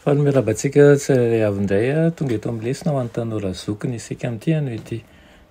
Faly miarahaba antsika tsirairay avy indray tonga eto amin'ny lesona ho an'ny tanora zoky ny isika amin'ity anio ity.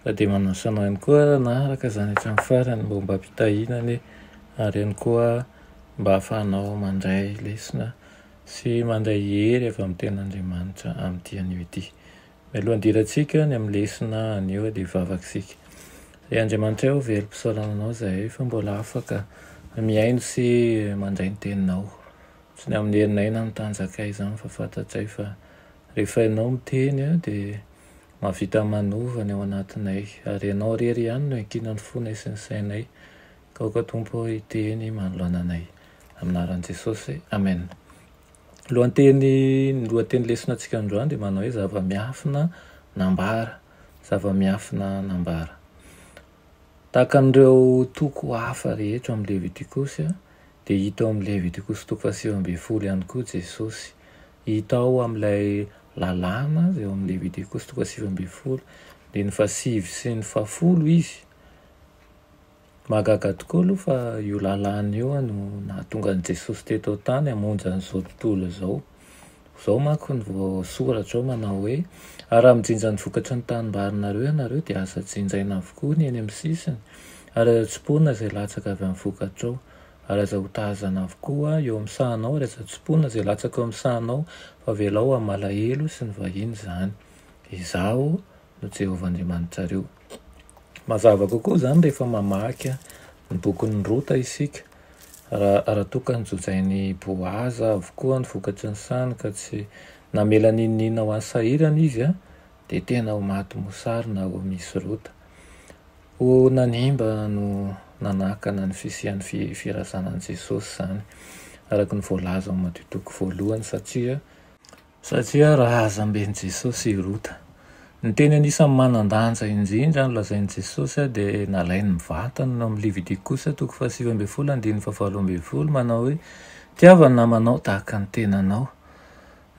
Fa dia manasa anao ihany koa hanaraka izany hatramin'ny farany mba ho mba am-pitahiana anie ary ihany koa mba hahafahanao mandray lesona sy mandray hery avy amin'ny tenin'Andriamanitra amin'ity anio ity. Mialoha handirantsika ny amin'ny lesona anio dia hivavaka isika. Ry Andriamanitray ô, velom-pisaorana Anao izahay fa mbola afaka mihaino sy mandray ny Teninao. Tsy ny amin'ny herinay na ny tanjakay izany fa fantatray fa rehefa Ianao miteny dia mahavita manova ny ao anatinay. Ary Ianao irery ihany no iankinan'ny fonay sy ny sainay. Aoka Tompo ô hiteny manoloana anay. Amin'ny anaran'i Jesosy, Amen. Lohanteny, ny lohateny lesona antsika androany dia manao hoe zava-miafina nambara, zava-miafina nambara. Tahaka an'ireo toko hafa rehetra ao amin'ny Levitikosy dia hita ao amin'ny Levitikosy toko fahasivy ambin'ny folo ihany koa Jesosy. Hita ao amin'ilay lalàna izay ao amin'ny Levitikosy toko fahasivy ambin'ny folo, dia ny fahasivy sy ny fahafolo Izy. Mahagaga tokoa aloha fa io lalàna io no nahatonga an'i Jesosy teto an-tany hamonjy an'izao tontolo izao. Izao manko no voasoratra ao manao hoe, Ary raha mijinja ny vokatry ny tanimbarinareo ianareo, dia aza jinjaina avokoa ny eny amin'ny sisiny, ary aza tsimponina izay latsaka avy amin'ny vokatrao, ary aza hotahazana avokoa eo amin'ny sahanao, ary aza tsimponina izay latsaka eo amin'ny sahanao, fa avelao ho amin'ny malahelo sy ny vahiny izany. Izaho no Jehovah Andriamanitrareo. Mazava kokoa izany rehefa mamaky ny bokin'i Rota isika, raha toa ka nojojain'i Boaza avokoa ny vokatry ny sany ka tsy namela n'inon'inona ho an'ny sahirana izy, dia tena ho maty mosary na ho misy Rota. Ho nanimba no nanakana ny fisian'ny firazanan'i Jesosy izany, araka ny voalaza ao amin'ny Madio Toko voalohany, satria, Satria razamben'i Jesosy i Rota. Ny teny anisan'ny manan-danja indrindra nolazain'i Jesosy dia nalainy mivantana ao amin'ny Levitikosa toko fahasivy ambin'ny folo andininy fahavalo ambin'ny folo manao hoe, Tiava ny namanao tahaka ny tenanao.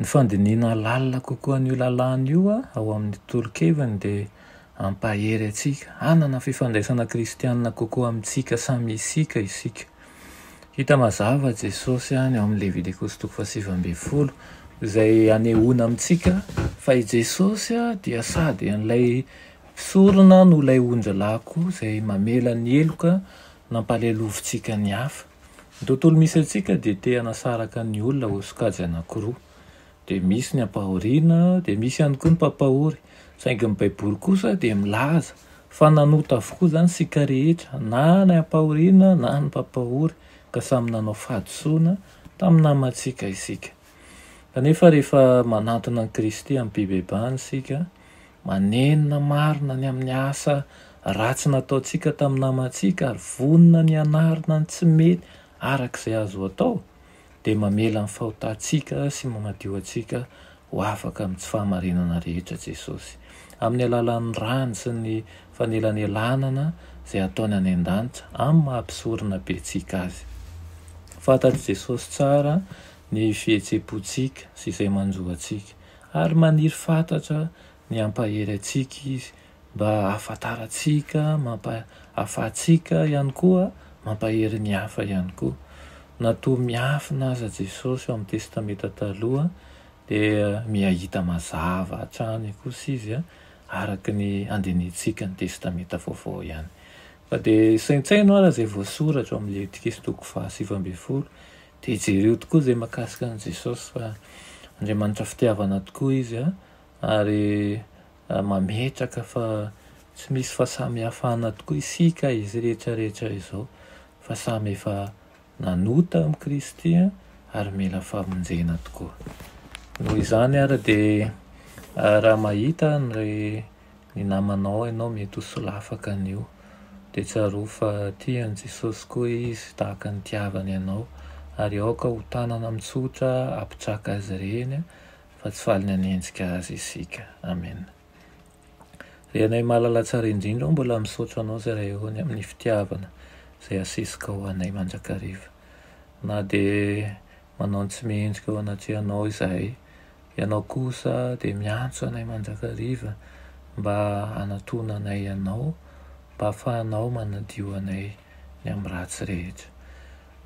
Ny fandinihina lalina kokoa an'io lalàna io ao amin'ny tolokeviny dia hampahery antsika hanana fifandraisana kristiana kokoa amintsika samy isika isika. Hita mazava Jesosy any ao amin'ny Levitikosy toko fahasivy ambin'ny folo, izay hanehoana amintsika fa i Jesosy dia sady an'ilay mpisorona no ilay ondrilahy koa izay mamela ny heloka nampahalelovintsika ny hafa. Ny tontolo misy antsika dia te-hanasaraka ny olona ho sokajy anankiroa. dia misy ny ampahoriana, dia misy ihany koa ny mpampahory, saingy ny Baiboly kosa dia milaza fa nanota avokoa izany isika rehetra, na ny ampahoriana na ny mpampahory, ka samy nanao fahadisoana tamin'ny namantsika isika. Kanefa rehefa manantona an'i Kristy amim-pibebahana isika, manenina marina ny amin'ny asa ratsy nataontsika tamin'ny namantsika ary vonona ny hanarina ny tsy mety araka izay azo atao, dia mamela ny fahotantsika sy manadio antsika ho afaka amin'ny tsy fahamarinana rehetra Jesosy. Amin'ny alalan'ny rany sy ny fanelanelanana izay ataony any an-danitra amin'ny maha mpisorona bentsika azy. Fantatr'i Jesosy tsara ny fihetsem-pontsika sy izay manjo antsika, ary maniry fatratra ny hampahery antsika izy mba ahafantarantsika, mampahafahantsika ihany koa, mampahery ny hafa ihany koa. Na toa miafina aza Jesosy ao amin'ny Testamenta Taloha dia miha-hita mazava hatrany kosa Izy araka ny andinihantsika ny Testamenta Vaovao ihany. Fa dia saintsaino ary izay voasoratra ao amin'ny Levitikiso toko fahasivy ambin'ny folo, dia jereo tokoa izay mahakasika an'i Jesosy fa Andriamanitra fitiavana tokoa Izy ary mametraka fa tsy misy fahasamihafana tokoa isika izay rehetra rehetra izao fa samy efa nanota amin'i Kristy ary mila famonjena tokoa. Noho izany ary dia raha mahita ny ny namanao ianao mety ho solafaka an'io dia tsarovy fa tia an'i Jesosy koa Izy tahaka ny nitiavany anao ary aoka ho tanana mitsotra hampitraka Azy ireny fa tsy faly ny hanenjika Azy isika. Amena. Ry Anay Malala Tsara Indrindra ô, mbola misaotra Anao Zay Raeony amin'ny fitiavana izay asesika ho anay mandrakariva. Na dia manao ny tsy mendrika eo anatrehanao izahay, Ianao kosa dia miantso anay mandrakariva mba hanatona anay Anao, mba hafahanao manadio anay ny amin'ny ratsy rehetra.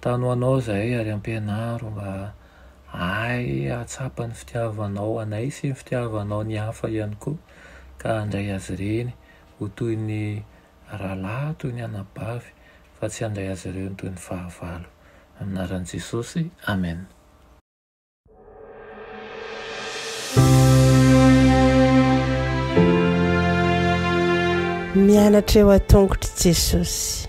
Tano ho Anao izahay ary ampianaro mba Hay hahatsapa ny fitiavanao anay sy ny fitiavanao ny hafa ihany koa, ka handray azy ireny ho toy ny rahalahy, toy ny anabavy, fa tsy handray azy ireo toy ny fahavalo. Amin'ny anaran'i Jesosy, amena. Mianatra eo an-tongotr'i Jesosy.